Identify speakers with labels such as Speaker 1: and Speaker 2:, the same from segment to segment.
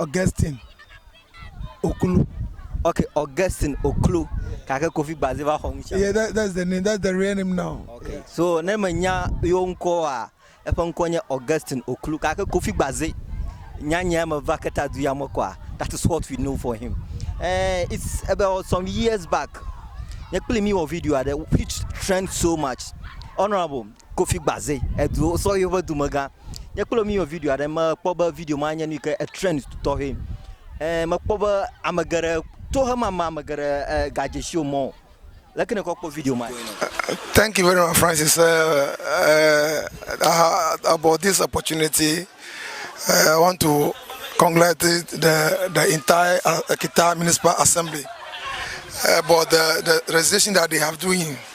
Speaker 1: Augustine Oklo. Okay,
Speaker 2: Augustine Oklo. Kake Kofi Gbaze va xɔ ŋutsã. Yeah, that, that's the name.
Speaker 1: That's the real name now. Okay. Yeah. So ne me
Speaker 2: nya yo ŋkɔ wa, eƒe ŋkɔ nye Augustine Oklo. Kake Kofi Gbaze. Nya nya me va keta du ya me kwa. That is what we know for him. Uh, it's about some years back. Nye kple mi wɔ video aɖe which trend so much. Honorable, Kofi Gbaze edu osɔhɛ ƒe dumegã. Nye kple mi wɔ video aɖe mekpɔ be video ma nye nu yi ke e trend tɔxɛ. E mekpɔ be ame geɖe tohemame ame geɖe e gadze si wo mɔ o. Leke nèkɔ kpɔ video ma? Thank you very
Speaker 1: much, Francis. Uh, uh, uh, about this opportunity, uh, I want to congratulate the, the entire uh, Kita Municipal Assembly about the, the registration that they have doing.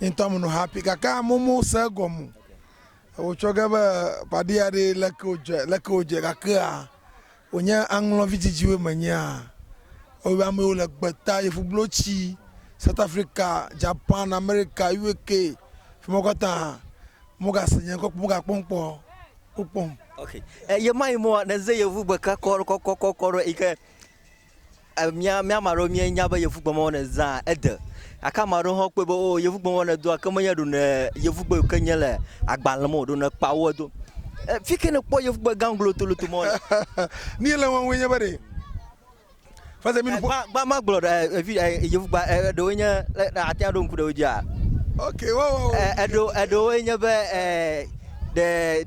Speaker 1: Yintɔmunu happy gake amomo se egɔmu. Wotsɔ ge be paɖia ɖe leke wodze leke wodze gakea wonye aŋlɔvi dzidziwo menyea wobe amewo le gbeta yevublotsi South Africa, Japan, America, UK fi ma katã mogase nye ŋkɔ mogakpɔm kpɔ wokpɔm. Okay. E,
Speaker 2: yema yi mo ne ze yevu gbeka kɔrɔ kɔkɔ kɔkɔ ɖo ike Mía ame aɖewo míenya be yevugbemewo wɔna zãa ede gake ame aɖewo hã kpɔe be o yevugbemewo wɔna doa ke menye ɖone yevugbe ke nye le agbalẽ me o ɖone kpa wo do. Fi ke nèkpɔ yevugbe gã glotoloto ma le. Ni le
Speaker 1: wɔm nye be ɖe. Fase mi nuƒo. Gba ma gblɔ ɖe
Speaker 2: evi yevugba eɖewo nye ate ŋu aɖo ŋku ɖe wo dzia. Okay, wo wo.
Speaker 1: Eɖewo eɖewo
Speaker 2: nye be ɖe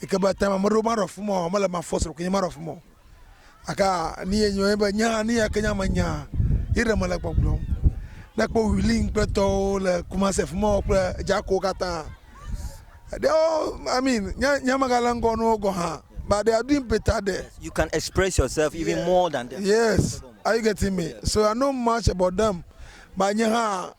Speaker 1: yi ke be tame meɖewo maɖo afi ma o, mele eme afɔ srɔ̃ ke nye maɖo afi ma o. Gake nu ye nyo ye be nye hã nu ya ke nye ame nyaa ye ɖe mele gbɔgblɔm. Ne ekpɔ Wheeling kple tɔwo le Kumasi afi ma kple Dzako katã ɖewo I mean nye nye megale ŋgɔ na wo gɔ̃ hã but they are doing better there. You can express
Speaker 2: yourself even more than them. Yes, are you getting
Speaker 1: me? So I know much about them but nye hã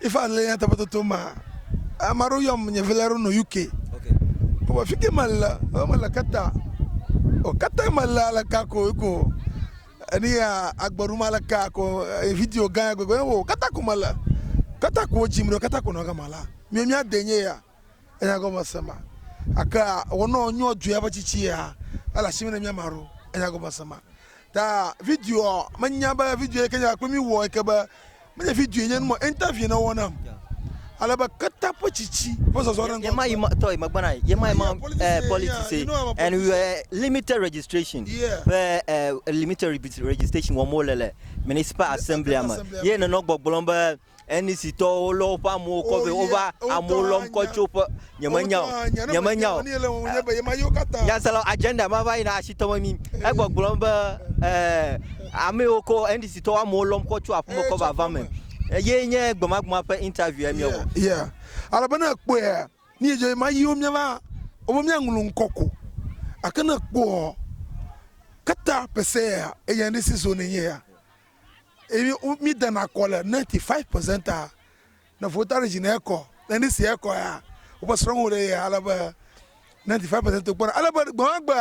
Speaker 2: If I lay nyateƒe
Speaker 1: toto ma, ame aɖewo yɔm nye vi la ɖo nɔ UK.
Speaker 2: Wɔ fi ke me
Speaker 1: le, wo me le kata. O kata me le ale ka ko ko. Eni ya agberu ma le ka ko eh, video gã gbegbe wo kata ko me le. Kata ko jim ɖo kata ko nɔ gama la. Mi mi ade nye ya. Enya gɔme se ma. Ake a wɔnɔ nyɔ dzoe abe tsitsi ya ele asime ne mia ma ɖo. Enya gɔme se ma. Ta video ɔ menya be video yike nya kple mi wɔ yike be menye video nye numa interview ne wɔ nam. Ale be keta ƒe tsitsi ƒe zɔzɔ ɖe ŋgɔ. Yema yi ma tɔ yi megbe na
Speaker 2: yema yi ma eh politics ye. And we were limited registration. Yeah. Be eh limited registration wɔm wole le municipal assembly me. Ye nenɔ gbɔgblɔm be Enisitɔwo lɔ woƒe amewo kɔ vɛ. Wova amewo lɔm kɔ tso ƒe. Nyemenya o. Nyemenya o. Nyaselawo, agenda ma va yina asi tɔ me mí. Egbɔgblɔm be, Ɛɛ, ame yiwo ko NDCtɔwo amewo lɔm kɔ tso aƒeme kɔ va va me ye nye gbemagblẽa ƒe interview ya míewɔ. Yeah. Ale be
Speaker 1: ne èkpɔea, nu yi dze ema yiwo míava wɔm be míaŋlɔ ŋkɔ ko. Gake ne èkpɔɔ, kata pɛsɛa, eya NDC zone enye ya. Eye mi dana kɔ le 95% a ne vota ɖe dzi ne ekɔ ne ni si ekɔ ya woƒe srɔ̃wo ɖe ya ale be 95% kpɔ ale be gbemagbe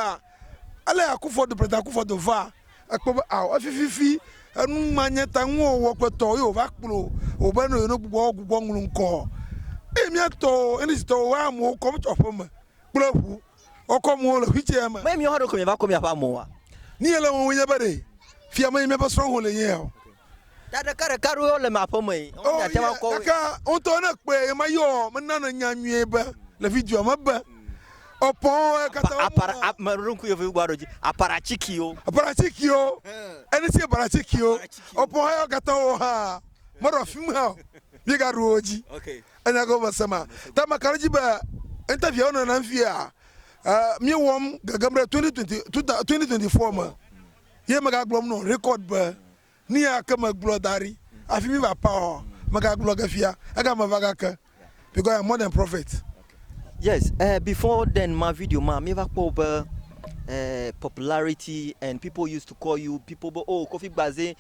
Speaker 1: ale akufo do president akufo do va ekpɔ be awo efififi enu manye ta ŋu wɔ kpetɔ ye wova kplo wo be no no gbogbo gbogbo ŋlu ŋkɔ eye miatɔ enisi tɔ wa mo kɔ tsɔ ƒe me kple ʋu wokɔ mo le xuitsɛa me. Mee miwo hã ɖokuiwo mieva kɔ miaƒe
Speaker 2: amoa? Nu yele wɔm nye
Speaker 1: be ɖe fia mee miaƒe srɔ̃xɔ le nyea o. Ta ɖeka
Speaker 2: ɖeka aɖewo wole me aƒe mee. Oh, miate ŋu akɔ wo. Gake wotɔ ne kpɔe
Speaker 1: ema yɔ mena ne nya nyuie be le videoa me be opɔn kata wo. Apara ame ɖo ŋku yevu
Speaker 2: gbɔ ɖo dzi. Apara cikio. Apara cikio.
Speaker 1: Ene si apara cikio. Opɔn yɔ kata wo ha. Mɔɖɔ fim ha. Bi ga ɖo wo dzi. Okay. Enya ke
Speaker 2: womese ma
Speaker 1: ta meka ɖe edzi be interview wonɔ nam fia míewɔm gegem ɖe 2024 me ye megagblɔm nɔ record be nuya ke megblɔ da ɖi hafi míeva paɔ, megagblɔ ge fia egame va gake because I am more than prophet. Yes,
Speaker 2: uh, before then ma video ma míeva kpɔ be uh, popularity and people used to call you people be oh Kofi Gbaze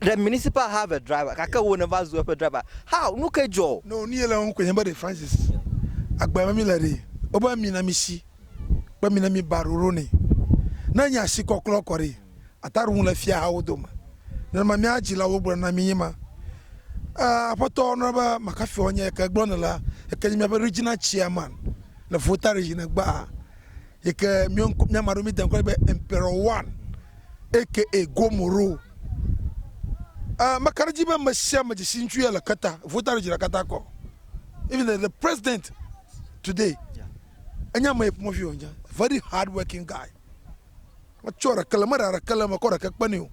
Speaker 2: The municipal have a driver gake wò nèva zu eƒe driver. How? Nukae dzɔ? No, nu ye le eŋu koe nye be
Speaker 1: ɖe Francis agbe me míle ɖee. Wobe mina mí shi kple mina mí ba ɖoɖo nɛ. Ne enye asikɔklɔ kɔ ɖee, ata ɖo ŋu le fiahawo dome. Nenema mía dzilawo gblɔ na mí nye ma. Aa, Aƒetɔ, nɔ be makafiɔ nye yike gblɔ nèle la, yike nye míaƒe Regional Chairman le Volta Region gbaa, yike míɔŋkɔ, míamaɖo mí deŋkɔ nɛ be Emperor One. aka e gomoro uh makaɖedzi be mesiame dzesi ŋutsu ya le keta vota ɖe dzira kata kɔ even the, the president today enya me ƒomevi o nya very hard working guy metsɔ ɖeke le meɖa ɖeke le me kɔ ɖeke kpe ne o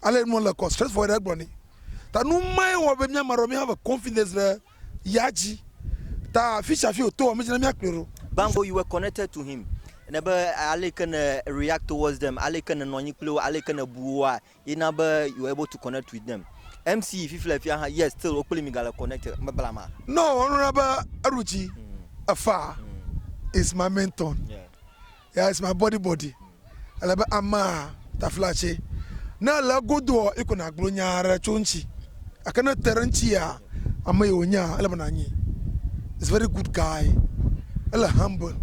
Speaker 1: ale nu le kɔ stress for ɖe gblɔ ne ta nu mae wɔ be miama ɖɔ mi have confidence ɖe ya dzi ta afisiafi wòto wɔ mídzi ne míakplɔe ɖo. Gbãgbo you were connected
Speaker 2: to him ne be aleke ne react towards them aleke ne nɔnyi kple wo aleke ne bu woa ye na be you were able to connect with them MC fifi le fia hã yes still wo kple mi gale connected me blama. Nɔ wɔ
Speaker 1: nuna be eɖu dzi efaa is my main turn. There is my body body Ele be amaa tafla tse Ne ele egodoɔ iko nagblɔ nyaa ɖe tso ŋtsi Gake ne ete ɖe ŋtsia ameyi wonyaa Ele be nanyi Is very good guy Ele humble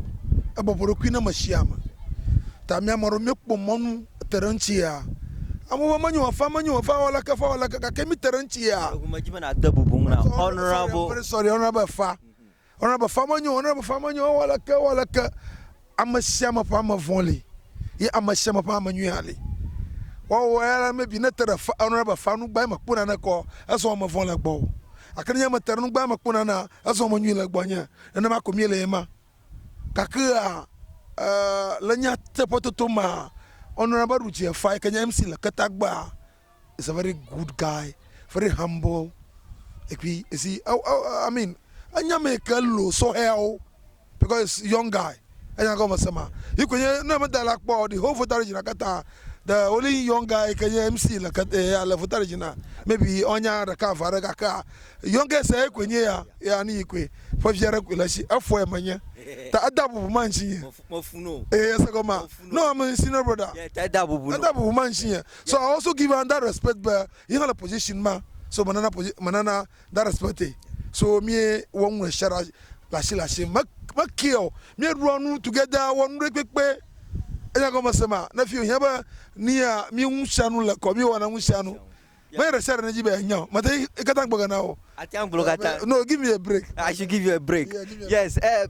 Speaker 1: Ebɔbɔ ɖokui ne meshiame Ta mia maɖewo mie kpɔ mɔnu ete ɖe ŋtsia Amewo be menyo afa menyo afa Ewɔ leke fa wɔ leke gake mi te ɖe ŋtsia Eŋu medzi be na de bubu
Speaker 2: ŋu na honorable Sorry honorable
Speaker 1: efa Wona be fame nyo, wona be fame nyo, ewɔ aleke, ewɔ aleke, ame sia ame ƒe ame vɔ̃ li ye ame sia ame ƒe ame nyui hã li. Woawɔ eya la, maybe ne te ɖe fa, wona be fa nu gbãe mekpɔ naneke o, ezɔ ame vɔ̃ le gbɔwò. Gake nenye mete ɖe nu gbãe mekpɔ nanea, ezɔ ame nyui le gbɔnye. Nenema ko míele ema. Gakea, eh, le nyateƒetoto mea, wona be ɖu dzi efa yike nye MC le ketagbea, is a very good guy very humble ekpi esi ɔ ɔ i mean enya me ke lo sɔhɛawo because is young guy enya gɔme se ma yi ko nye ne meda la kpɔ the whole voter region katã the only young guy ke nye mc le kat ya le voter region na maybe ɔnya ɖeka ava ɖe gakea youngest ye ko nye ya ya ni yi koe ƒe via ɖe koe le si efɔe menye ta eda bubu ma ŋutsi nye mɔfu mɔfu no ee
Speaker 2: ese gɔmea mɔfu
Speaker 1: no no ame senior brother yeah, ta eda bubu no eda
Speaker 2: bubu ma ŋutsi nye So I
Speaker 1: also give her that respect be yi hã le position ma so me nana position me nana that respect e so mi wɔ nu ɖe sia ɖe le asi le asi me me care o mi ɖua nu together wɔ nu ɖe kpekpe enya gɔme se ma ne fi o hiã be nia mi ŋu sia nu le kɔ mi wɔ na ŋu sia nu me ɖe sia ɖe ne dzi be enya o me te yi katã gbɔ gana o. Àte ŋu gblɔ katã. No, give me a break. I should give you a break.
Speaker 2: Yeah, give me a break. Yes, eh,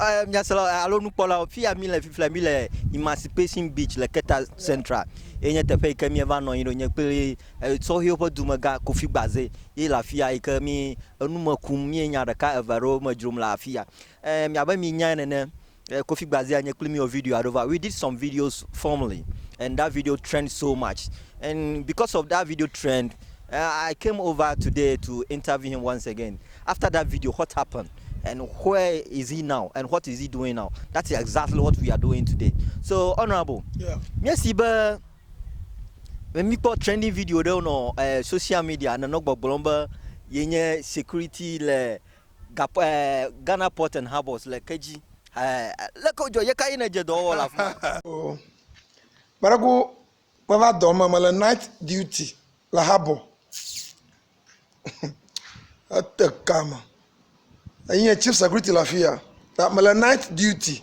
Speaker 2: eh, miasrɔ̃ eh, alo nukpɔlawo, fi ya míle fifia, míle Emancipation Beach le Keta Central. Ye nye teƒe yi ke míeva nɔ anyi ɖo, nye kple eh, sɔhɛwo ƒe dumegã Kofi Gbaze ye le afi ya yi ke mí enu me kum, míenya ɖeka eve aɖewo me dzrom le afi ya. Eh, miabe mienyae nene, Eh, Kofi Gbazia nye kpli mi wɔ video aɖewo va. We did some videos formerly and that video trend so much. And because of that video trend, uh, I came over today to interview him once again. After that video, what happened? And where is he now? And what is he doing now? That is exactly what we are doing today. So, Honorable, yeah. yes, but mi kpɔ trending video ɖewo nɔ eh, social media nenɔ gbɔgblɔm be yenye security le Gakpo eh, Ghana Port and Harbours le ke dzi. Eh, leke wodzɔ ye ka ye nedze dɔwɔwɔ le afi ma? Oh.
Speaker 1: Kparaku meva dɔ me, mele night duty le harbour. Ete ka me. Enye chief security le afi ya. Ta mele night duty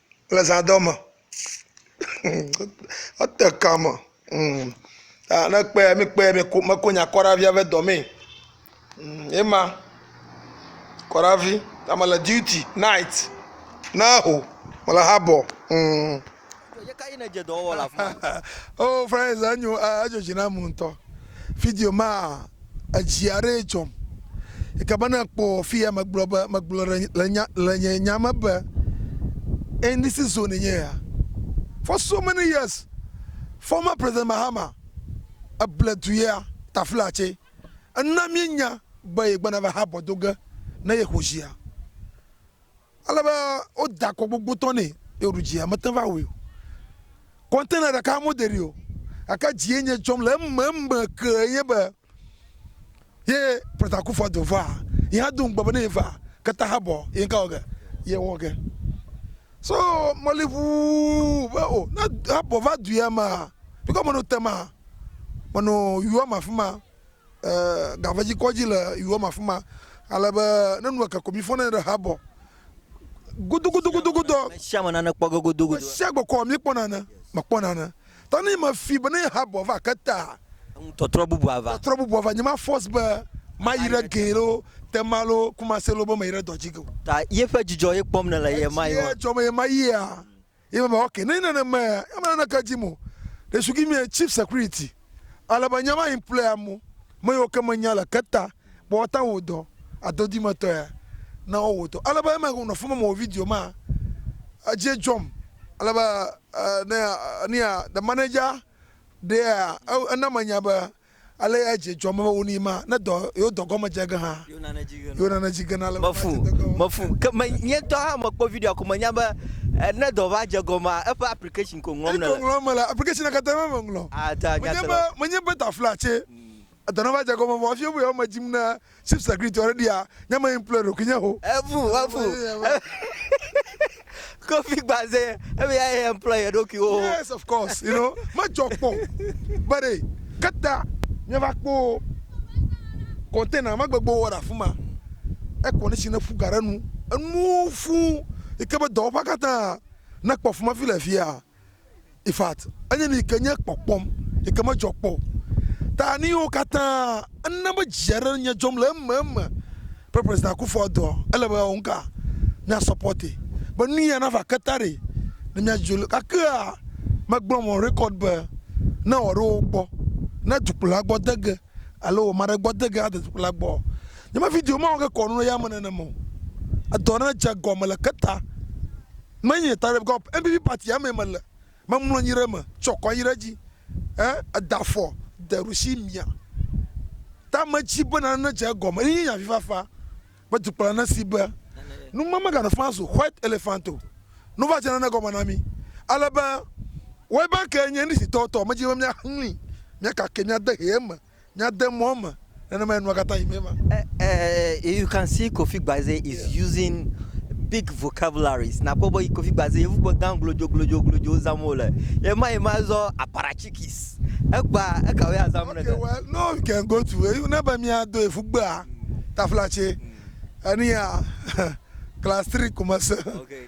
Speaker 1: le zãdɔ me ete ka me ne kpɔe mi kpɔe meko nya kɔ ɖe hafi ava edɔ mee ye ma kɔ ɖe hafi ta mele duty night ne ho mele habɔ.
Speaker 2: oh friends
Speaker 1: enyo edzodzi na mu ŋutɔ video ma Edzi aɖee dzɔm. Eke be ne kpɔ fi ya megblɔ be, megblɔ ɖe le nya, le nye nya me be, in this is zone nye ya. For so many years, former President Mahama, eble du ya, Taflatse. Ena míenya be yegbɔna va habɔ do ge ne yexɔ dzi ya. Ale be woda akɔ gbogbotɔ nɛ eye wòɖu dzi, mete ŋu va wui o. Kɔntena ɖeka mode ɖi o, gake dzi ye nye dzɔm le ememe ke nye be ye President Akuffo Addo va, ye hã do ŋugbe be ne ye va ke ta habɔ ye ŋka wɔ ge, ye wɔ ge. So meli ʋuu be o ne habɔ va du ya mea, bikɔ me no tema, me no yua ma fima. Gaŋvedi kɔ dzi le yuyɔm afima ale be ne nu eke ko mi fɔ ne ɖe habɔ godogodogodogodoɔ. Me
Speaker 2: sia me nane kpɔ ge godogodoɔ. Me sia gbe kɔ mi kpɔ
Speaker 1: nane me kpɔ nane ta ne me fi be ne habɔ va ke ta. Eŋu tɔtrɔ bubu
Speaker 2: ava. Tɔtrɔ bubu ava nye ma force be
Speaker 1: ma yi ɖe gee lo tema lo kumase lo be me yi ɖe dɔ dzi geo. Ta ye ƒe dzidzɔ
Speaker 2: ye kpɔm ne le ye ma yi. Esi ye dzɔ me ye ma yia.
Speaker 1: Ye me be, Ok, nenye nenemaea, nyemele naneke dim o. They should give me a cheap security. Ale be nye va employ amewo, ame yiwo ke menya le keta be woate ŋu awɔ dɔ, adodimetɔ ya, na wowɔ dɔ. Ale be eme ŋu nɔ fima mewɔ video ma, edzi dzɔm. Ale be, eh, ne, eh, nia, the manager ɖea, e, ena menya be Ale edze dzɔm be wonui ma, ne dɔ yewo dɔ gɔme dze ge hã, yewo nane dzi gena. Yewo nane dzi gena le Mefu, woƒe adzedege wɔwɔ. mefu.
Speaker 2: Ke me nye ŋutɔ hã mekpɔ videoa ko menya be eh, ne dɔ va dze gɔmea, eƒe application ko ŋlɔm Eyi ko nèle. ŋlɔm mele, applicationea katã me
Speaker 1: meŋlɔ. Ah, ta nya Menye te be, lɔ.
Speaker 2: menye be taflatse,
Speaker 1: edɔ neva dze gɔme vɔ hafi wobe yewoa me dzim ne Sip sakli tɔ ɖe ɖia nye me ŋplɔe ɖokui nye ho. Ebu ebu
Speaker 2: kofi gbaze ebe ya ye ŋplɔ ye ɖokui wo. Yes of course you know
Speaker 1: me jɔ kpɔ be ɖe keta nye va kpo container ma gbegbo wɔ ɖe afima e condition ne fu ga ɖe nu enu fu yi ke be dɔwɔƒa katã ne kpɔ afima fi le fia. In fact, enye nu yi ke nye kpɔkpɔm, yi ke medzɔ kpɔ o. Ta nu yiwo katã ena be dzi aɖe le nye dzɔm le ememe be President Akufo-Addo ele be yeawɔ nuka? Mía supporter be nu ya nava ke ta ɖe ne mía dzo le. Gakea megblɔm on record be ne wòaɖo wo gbɔ, ne dukplɔla gbɔ de ge alo ame aɖe gbɔ de ge ade dukplɔla gbɔ, nye me video mawɔ ke kɔ nu ɖe yame nenema o. Edɔ aɖe dze egɔme le ke ta. Menye Tarrif Gop NPP party amee mele, memlɔ anyi ɖe eme tsɔ kɔ anyi ɖe edzi he da afɔ de ɖusi mia tame dzi be nane nedze egɔme ye nye avifafa be dukplɔla nesi be nu ma meganɔ faa zu white elephant o, nu va dze nane gɔme na mi ale be Web Bank nye English-tɔwo tɔ, medzi be miaxlẽe, miakakɛ, miade hɛ eme. Nya de mɔ eme nenema enua kata yi me ma.
Speaker 2: You can see Kofi Gbaze is using big vocabularies nakpɔ be Kofi Gbaze yevu gbe gã glodzo glodzo glodzo zam wo le. Yema yema zɔ aparachikis. Egba eka woya zam ne ge. Well no you can
Speaker 1: go to you ne be mia do efu gbea taflatse enia class three ko me se. Okay.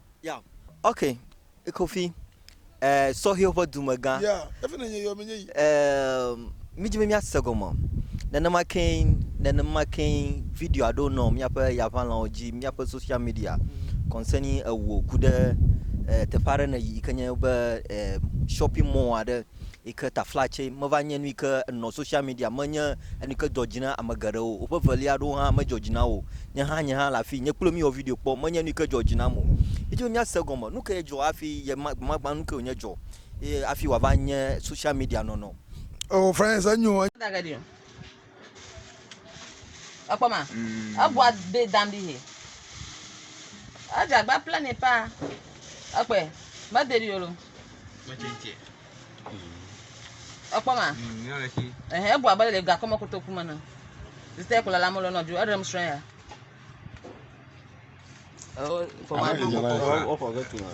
Speaker 1: Yeah ok
Speaker 2: Kofi eh, sɔhɛwo ƒe dumegã. Yeah, efi ne nye yɔ
Speaker 1: menye yi. Eh,
Speaker 2: mídzi be míase gɔme. Nenema ke nenema ke video aɖewo nɔ míaƒe yaʋalãwo dzi, míaƒe social media concerning ewò ku ɖe eh, teƒe aɖe ne yi ke nye be eh, shopping mall aɖe. Yi ke ta fla tsɛ meva nye nu yi ke nɔ social media me nye enu yi ke dzɔ dzi na ame geɖe o. Woƒe velia ɖewo hã medzɔ dzi na wo o. Nye hã nye hã le afii, nye kple wo míwɔ video kpɔ, menye nu yi ke dzɔ dzi nam o. Mídi be míase gɔme, nu kae dzɔ hafi ye ma gbemagba nu kae wònye dzɔ ye hafi wòava nye social media nɔnɔ. Ewɔ fine sa
Speaker 1: nyo.
Speaker 3: Ekpɔ ma. Mm. Egua de dam ɖi he. Edza gba ple ne pa. Ekpɛ. Me de ɖi yolo. Me tse tse. Ekpɔ ma. Ehe egua be le gakɔ me kotoku me ne. Zite kula la mo lo no ju. Erem srɛ ya. Oh, for my people. Oh, for good to know.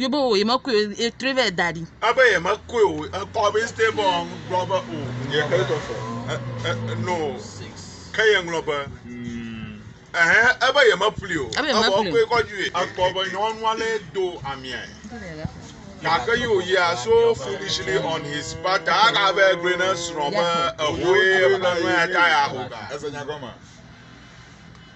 Speaker 3: Yewobɔ o, yemekɔe o, yetrɔe va yi da ɖi. Ebe yemekɔe
Speaker 4: o, ekɔ be instead be wòagblɔ be o, yexɔe kɔ sɔ. E- e- e- No. Ke yeŋlɔ be, Ɛhɛ, ebe yemeƒli o. Ebe Evɔ yemeƒli o. ekɔe kɔ dzi. Ekpɔ be nyɔnua lé do amiae. Gake yi wòyia so foolishly on his part ta aka be egblɔe na srɔ̃ be, Ehoe, eƒe nɔnɔe ya ta yeaho ga. Ese nya gɔmea?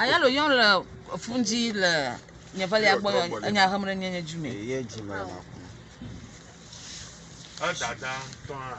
Speaker 3: Ayalo yɔm le fun dzi le nye velia gbɔ enya hem ɖe nye nye dzi me.
Speaker 5: Edada
Speaker 4: tɔa.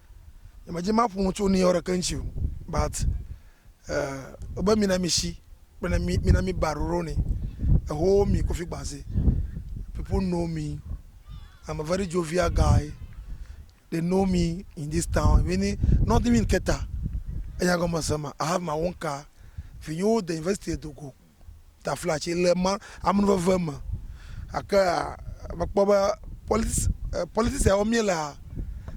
Speaker 1: nye me dzi ma ƒonu tso nuyɔ ɖe keŋ tsi o but eh obe mina mi shi kple ne mi mina mi ba ɖoɖo ni eho mi kofi gbaze people know me i'm a very jovial guy they know me in this town meaning northern keta enya gɔme se ma i have my own car vinyewo de university do go taflatse le ma amenuveve me gake mekpɔ be polit politics ya wɔm míelea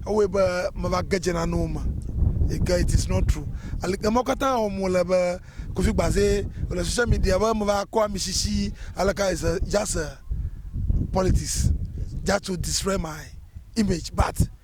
Speaker 1: ewɔe be meva ge dze nanewo me yi ke it is not true ali emɔ katã wɔm wole be kofi gbaze le social media be meva kɔ ami sisi aleka is a just a politics just to destroy my image but.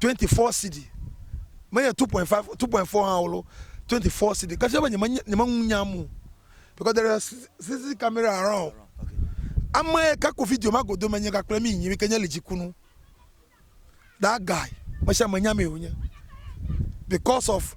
Speaker 1: 24 cedi menye 2.5 2.4 hã olo 24 cedi kasi be nyeme nyeme ŋu nya mo because there is CCTV camera around ame ka ko video ma godo me nye ga kple mi nyi ke nye lidzikunu that guy me sia me nya me wonye because of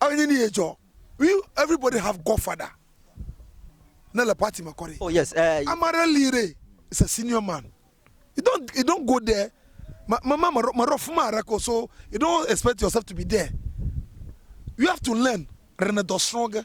Speaker 1: Enyi ni ye dzɔ. We everybody have God father ne le party me
Speaker 2: kɔ ɖe. Oh yes eh. Ama ɖe li ɖe
Speaker 1: is a senior man. You don't you don't go there. Ma ma ma ma ɖo fuma ɖe ko so you don't expect yourself to be there. You have to learn rene dɔ srɔge.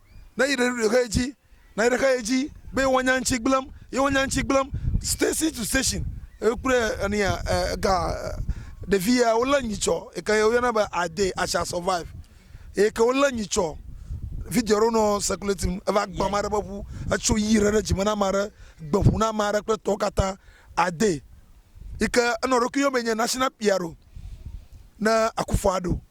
Speaker 1: Na yi ɖe ɖoɖoe dzi, na yi ɖe xeɣe dzi be woanya ŋutsi gblẽm, ye woanya ŋutsi gblẽm station to station. Ekple enia ega ɖevi ya wolé nyitsɔ eke ye woyɔna be I dare, I shall survive. Eye ke wolé nyitsɔ video aɖewo nɔ circulating eva gbã ame aɖe ƒe ŋu, etso yi ɖe ɖe dzime na ame aɖe, gbe ŋu na ame aɖe kple tɔwo katã. I dare. Yi ke enɔ eɖokui yɔm be nye national piaro ne Akuffo-Addo.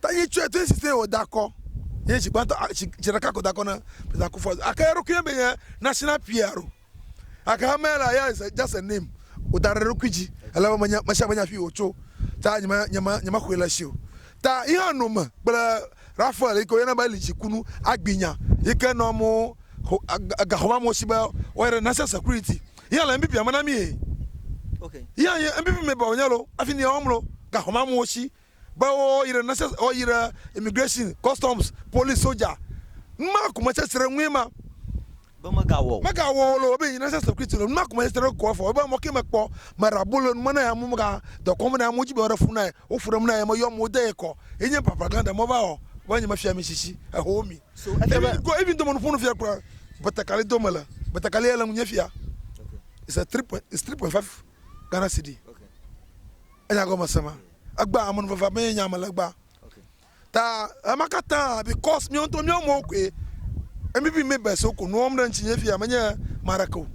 Speaker 1: Ta yi tsɔe to esi te wòda akɔ. Ye dzi gbãtɔ a, dzi, dzi ɖeka ko da akɔ na Pita ku fɔ. Ake eɖokui be ye nasi na Piɛr o. Ake hamɛ la ya ze dza se nim wòda ɖe eɖokui dzi ale be menya mesiame nya fi wòtso. Ta nyema, nyema, nyema xɔe le esi o. Ta yi hã no me kple Raphael yi ke woyɔna be Lidzi ku nu agbi nya yi ke nɔ amewo xo, gaxɔ me amewo si be woayi ɖe National Security. Yi hã le NBP-a me na mi ye. Yi
Speaker 2: hã yi NBP-a
Speaker 1: me ba wònye lo, afi ni ya wòam lo, gaxɔ me amewo si. be woyi ɖe nurses woyi ɖe immigration customs police soja numa ko me sesre ŋue ma be
Speaker 2: megawɔ megawɔ o lo be yi nurses security
Speaker 1: lo numa ko me sesre ko afɔ be mo ke me kpɔ me ra bolo nume na ya mo mega dɔkɔm na ya mo ji be ore fu na wo fu ɖem na ya me yɔ mo de ekɔ yi nye papa gan de mo va wɔ be nye me fia mi sisi eho mi so ete be go even do mo nuƒo nu fia kura betakali do me le betakali ele ŋu nye fia is a 3 point is 3.5 Ghana cedi okay. Enya gɔme sema. Egba amenuveva mee nya me le gba. Ta ema katã because míawo ŋutɔ míawo amewo koe. Maybe mi best wo ko nu wɔm ɖe ŋuti nye fia menye maɖe ke o.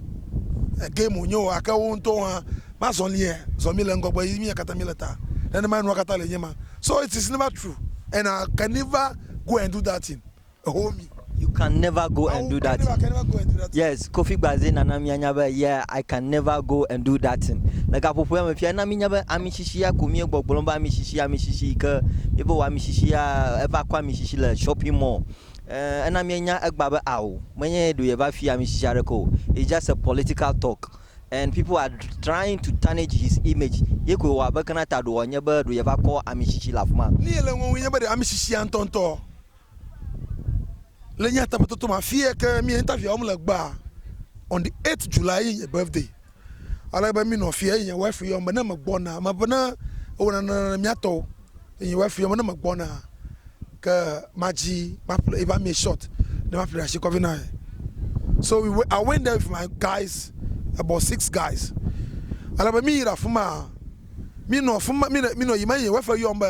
Speaker 1: Game wonye o ake wo ŋutɔwo hã mazɔlie zɔ mi le ŋgɔgbe yi mia katã mi le ta. Nenema enua katã le enye ma. So it is never true and I can never go and do that thing. home. You can
Speaker 2: never go and do that thing.
Speaker 1: Yes, Kofi Gbaze nana
Speaker 2: mianya be yeah, I can never go and do that thing. Le gaƒoƒoa me fia na minya be amisishia ko mie gbɔgblɔm be amishishi amishishi yi ke ye be wɔ amishishia eva kɔ amishishi le shopping mall. Eh, ena mienya egba be ao menye ɖo yeva fi amishishi aɖeke o. It's just a political talk and people are trying to tarnish his image. Ye ko wɔ abe kana ta ɖo wɔ nye be ɖo yeva kɔ amishishi le afima. Ni ele ŋɔŋɔe nye be ɖe
Speaker 1: amishishia ŋutɔŋutɔ Le nyateƒetoto me afi yɛ ke mí interview wɔm le gbaa, on the 8 July ye nye birthday. Ale be mínɔ afi yɛ eye nye wife yɔm be ne megbɔna, mebe ne ewɔ nane ne mía tɔwo. Eye nye wife yɔm be ne megbɔna ke madzi maƒle eƒe amie short ne maƒle ɖe asi kɔvi na ye. So we went, I went there with my guys, about six guys. Ale be míyi ɖe afi maa, Míenɔ afi ma, míenɔ, míenɔ yiyim eye Yehowa ƒe yɔm be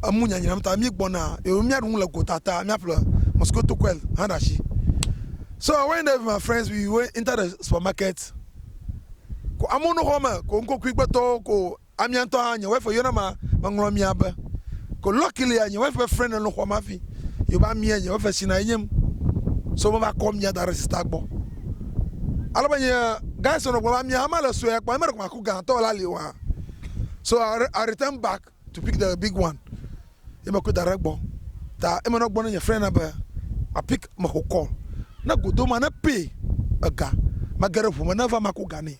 Speaker 1: emu nyanyram ta míegbɔna eye míaɖu nu le gota ta míaƒle mosquito coil hã ɖe asi. So I went there with my friends, we went into the supermarket. Ko amewo no xɔ me, ko ŋkokui gbetɔwo, ko amia ŋutɔ hã, nye wife yɔna ma, meŋlɔ mia be. Ko luckily, nye wife ƒe friend nɔ xɔa me hafi, yewo va mia, nye wife tsina enye m. So meva kɔ mia da ɖe sister gbɔ. Ale be nye guys nɔ gblɔ be amia hã mele sue kpɔ, ame ɖe ko ma. ku gãtɔ la li wa. So I, I return back to pick the big one. Ye me kɔe da ɖe gbɔ. Ta eme nɔ gbɔ ne nye friend na be ma pick me xɔ call. Ne godo ma ne pay ega. Ma ge ɖe ʋu me ne va ma ku ga ne.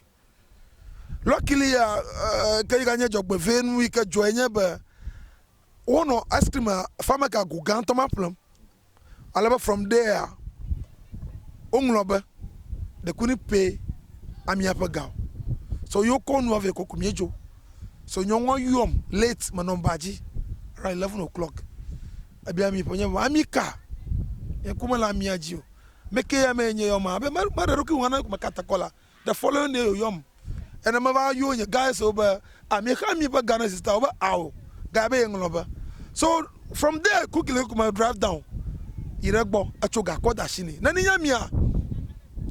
Speaker 1: Luckily ya uh, ke yi ga nye dzɔgbevɛ nu yi ke dzɔe nye be Wonɔ ice cream fa me gago gãtɔ ma ƒlem ale be From There-a, woŋlɔ be, Ɖekui ni pɛ a miaƒe ga o. So yo kɔ nua vɛ kɔku miedzo. So nyɔnua yɔm late menɔ ba dzi around eleven o'clock. Ebia mi ƒe nye be, ami ka? Nye ŋku mele amia dzi o. Ame ke ya mee nye yɔm a? Be, meɖe ɖokui ŋu na meka te kɔ la. the following day yɔm ene meva yɔ nye guys wo be ami xa mi ƒe Ghana sister wo be ao guy be yeŋlɔ be so from there quickly quickly me drive down yi ɖe gbɔ etso gakɔ da shi ne ne nye mia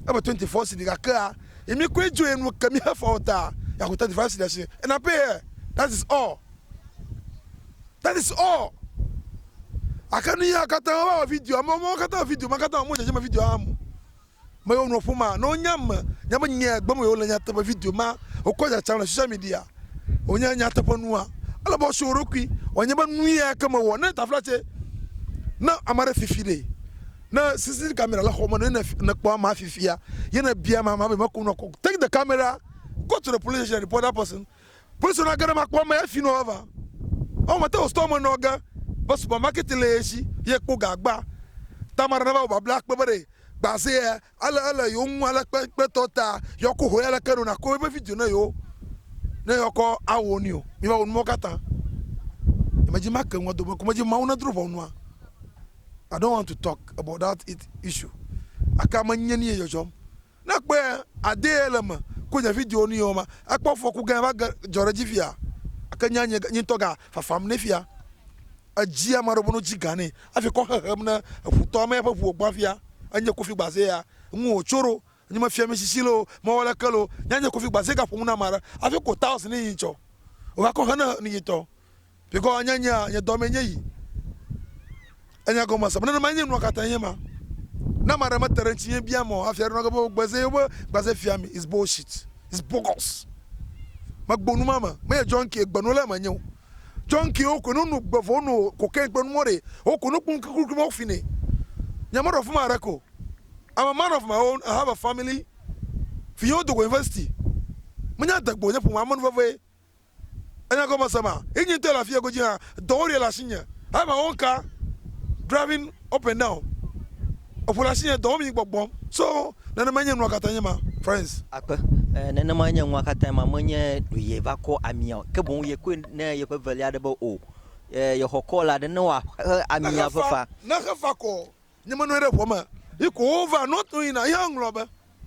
Speaker 1: ebe 24 cedi gakea yi mi koe dzo enu ke mi hefa o ta yaku 35 cedi shi and I pay her that is all that is all akanu ya kata wa video mo mo kata video ma kata mo je me video amu me yewo nuwo ƒom ma ne wonya ame nya be nya gbem wole le nyateƒe video ma wokɔ tsatsam le social media wonye nyateƒe nua ele be wɔsi wo ɖokui wɔnye be nu ya ke me wɔ ne tafla tse ne ame ɖe fifi ɖe ne sisi kamera le xɔ me ne ne kpɔ ama fifia ye ne bia ma ma be me ko nɔ ko take the camera go to the police station report that person Kpɔsɔ na ge ɖe makpɔ ame ya finɔ vava. Ɔ mate o store me nɔ ge be supermarket le ye shi ye kpo ga gba. Tamara na va wo babla kpe be ɖe gba ze ya ale ele yo ŋu ale kpe kpe tɔ ta yɔ ko ho ya leke ɖo na ko ebe video ne yo ne yɔ kɔ a wo ni o. Mi va wo numɔ kata. E me dzi ma ke ŋua do be ko me dzi mawu ne dro vɔ nua. I don't want to talk about that it issue. Aka me nye ni ye jɔjɔm. Ne ekpɔe adee le eme ku nye video nui o ma ekpɔ fɔku gã va ge dzɔ ɖe dzi fia ake nya nye nye ŋutɔ ga fafam ne fia edzi ama ɖewo no dzi gã ne afi kɔ xexem ne eƒu tɔ ame eƒe ƒuwo gbã fia enye kofi gbaze ya ŋu o tso ɖo nye me fia mi sisi loo me wɔ leke loo nya nye kofi gbaze ga ƒo nu na ama ɖe afi ko taos ne yi tsɔ o va kɔ xe ne nui tɔ. Bikɔ nye nyea, nye dɔmee nye yi. Enya gɔme se. Nenema nye nua katã nye ma. Ne ame aɖe mete ɖe ŋutinye biam o hafi aɖo nage be wogbeze yewo gbeze fia mi is bullshit. Is bogus. Megbo nu ma me. Menye junkie gbe nola menye o. Junkie wo koe nono gbe vɔ wono cocaine kple numawo ɖee. Wo koe nokpɔ nukrikri mawo fine. Nye meɖo afima haɖeke o. I'm a man of my own, I have a family. Vinyewo dogo university. Menye adegbe o, nye ƒome amenuveve ye. Enya gɔme se ma. Inyi ŋtɔ le afi ego dzi hã. Dɔwo ɖe le asinye. I my own car driving up and down. Eƒo le asinye dɔwɔm yi gbɔgbɔm. So nenemae nye nua katã nye ma friends. Akpe. Eh, nenemae
Speaker 2: nye nua katã ma. Menye ɖo ye va kɔ amia o. Ke boŋ ye kɔe ne yeƒe velia ɖe be o. Eh, yexɔ kɔla ɖe ne woaxe amia ƒe fa. Nexe fa kɔ.
Speaker 1: Nye menɔe ɖe ʋua me. Yi ko wova nɔ to yina yɔ ŋlɔ be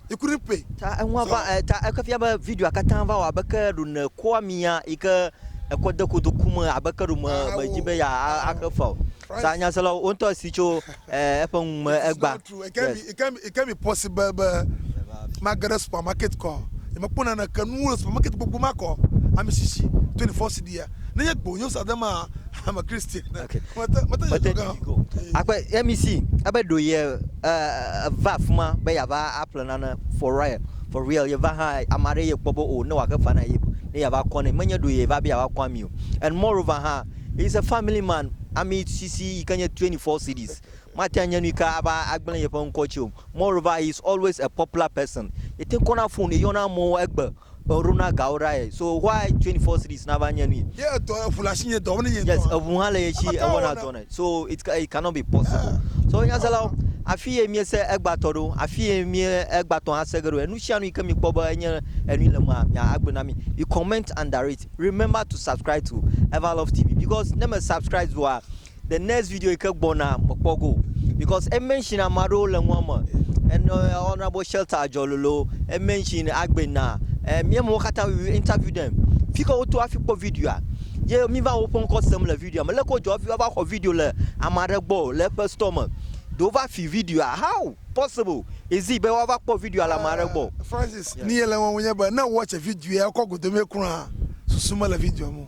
Speaker 1: yi ku ɖi pɛ. Ta eŋua va e ta
Speaker 2: eke fia be videoa katã va wɔ abe ke ɖo ne ko amia yi ke ekɔ de kodo ku me abe ke ɖo me me dzi be ya a xe fa o. Ta nyaselawo wo ŋutɔ si tso e eƒe nu me egba. Yes. It can be, it
Speaker 1: can be possible be mage ɖe supermarket kɔ. Nye mekpɔ naneke nuwo le supermarket gbogbo ma kɔ. Ami sisi 24 cedis. nenye gbonyo sa de ma ame kristi ne okay. mete mete
Speaker 2: mete
Speaker 1: diko akpe emi
Speaker 2: si abe do ye uh, va fuma be ya va aple nana for real for real ye va ha amare ye kpɔ be o oh, ne wa ke fana ye ne ya va kɔ ne menye do ye va be ya va kɔ ami o and moreover ha is a family man ami sisi yi ke nye 24 cities mate anye nu ka ava agblẽ yeƒe ŋkɔ tsi o moreover he is always a popular person yete kɔna phone yɔna amewo egbe Ɔ ɖo na gawo ɖa ɛ. So why twenty four series na va nye nui. Ye etɔ eʋu le asi
Speaker 1: nye dɔ wonye nye dɔ. Yes eʋu hã le ye si
Speaker 2: e wɔna dɔ nɛ so it it cannot be possible so nyaselawo afi ye mie se egba tɔ ɖo afi ye mie egba tɔ hã se ge ɖo enu sia nu yi ke mi kpɔ be enye enui le mea mia a gblɔe na mi you comment under it remember to subscribe to Everlove TV because ne me subscribe doa the next video yi ke gbɔna mekpɔ go because e mention ame aɖewo le nua me ene honorable shelter adzɔlolo e mention agbena e mie mo katã we interview them fi ke woto afi kpɔ videoa ye mi va woƒe ŋkɔ sem le videoa me leke wodzɔ fi va xɔ video le ame aɖe gbɔ le eƒe store me do wova fi videoa how possible is it be woava kpɔ videoa le ame aɖe gbɔ eh, francis ni ye le
Speaker 1: wɔm nye be ne watch video ya kɔ godomie kura susu mele video mo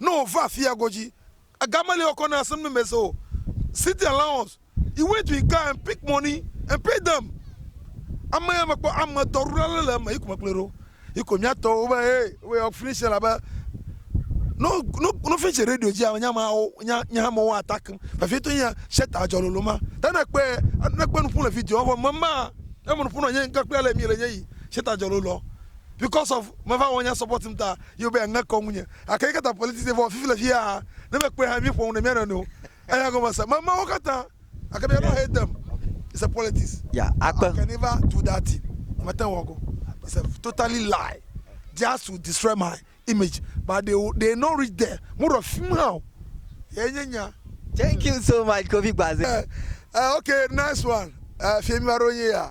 Speaker 1: ne wòva afia godzi gamele yɔ kɔ ne asem ne mese o city allowance he went to his car and pick money and pay them ame ya mekpɔ ame tɔ ɖo ale le eme yi ko mekplɔe ɖo yi ko mia tɔ wo be he wo yɔ finish la be no no no finish radio dzi ame nyama wo nya nya ha mo wa attack vefie to nya sheta adzɔ lolo ma ta ne kpe ne kpe nu ƒu le video ɔvɔ mema eme nu ƒu na nye nka kple ale mi le nye yi sheta adzɔ lolo because of meva wɔnya support m ta ye wobɛ ŋe kɔ ŋunye gake yi kata politics ye vɔ fifi le fia ha ne me kpɔe ha mi ƒo ŋu ne mia nɔ nɔewo eya gɔme se mama wo kata gake mia nɔ hate m it's a politics yeah I can never do that thing me te wɔ go it's a totally lie just to destroy my image but they they not reach there mo rɔ fim ha o ye nye nya
Speaker 2: thank you so much kofi gbaze uh, uh, okay
Speaker 1: nice one uh, fie mi ma ro ye ya